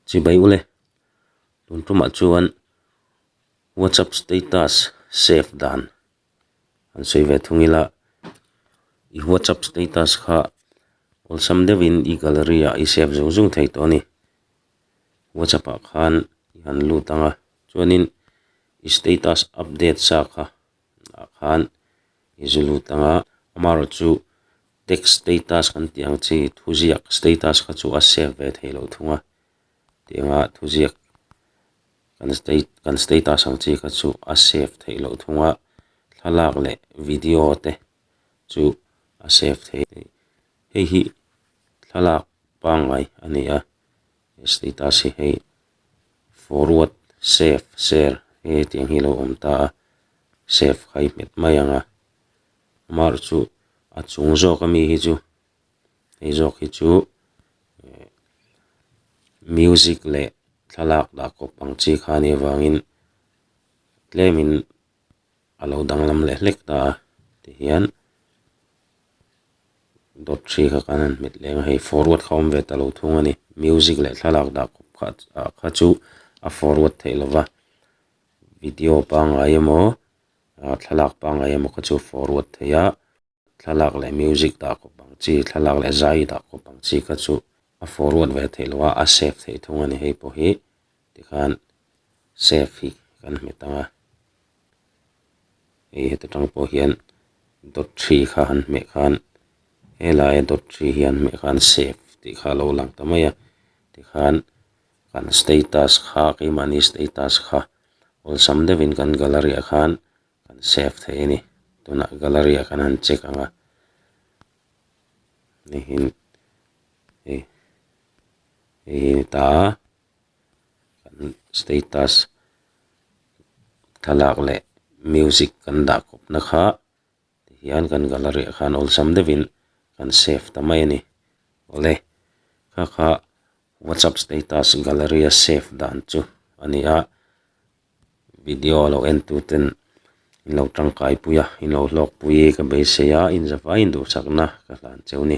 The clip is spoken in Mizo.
Chhi bai ule, tun tumah chuan WhatsApp status save dan an sawi ve thung ila, i WhatsApp status kha awlsam deuhin i gallery ah i save zung zung thei tawh a ni. WhatsApp ah khan i han lut anga, chuanin i status update sa kha. ah khan i zui lut ang a, amaherawh chu text status kan tih ang chi thuziak status kha chu a save ve thei loh thung a, tianga thuziak kan state kan status ang chi kha chu a save theih loh thung a, thlalak leh video te chu a save thei hei hi thlalak pangngai a ni a. He status hi hei forward, save, share he tiang hi lo awm ta a, save khai hmet mai ang a, amaherawh chu a chung zawk a mi hi chu hei zawk hi chu eh music leh thlalak dah kawp ang chi khan hi avangin tlem in. a lo danglam lek lek ta a tihian dawt ṭhi kha kan han hmet leng a hei forward kha awm ve ta lo thung a ni music leh thlalak dah khawp kha ah kha chu a forward theih lo va video pangngai emaw ah thlalak pangngai emaw kha chu a forward theih a. thlalak leh music dah khawp ang chi thlalak leh zai dah khawp ang chi kha chu a forward ve theih loh a a save theih thung a ni hei pawh hi tikhan save hi kan hmu ta a hei heta tang pawh hian dawt ṭhi kha han hmeh khan he laia dawt ṭhi hi han hmeh khan save tih kha a lo lang ta mai a tikhan kan status kha keimahni status kha awlsam deuhin kan gallery ah khan-- kan save theih a ni tunah gallery ah kan han check ang a nihin hei hei hi a ni ta kan status thlalak leh music kan dah khawp na kha tihian kan gallery ah khan awlsam deuhin kan save ta mai a ni awle kha kha whatsapp status gallery a save dan chu a ni a. video a lo en tu ten in lo tangkai pui a in lo hlawk pui ka beisei a inzavai induhsak na ka hlan cheu ni.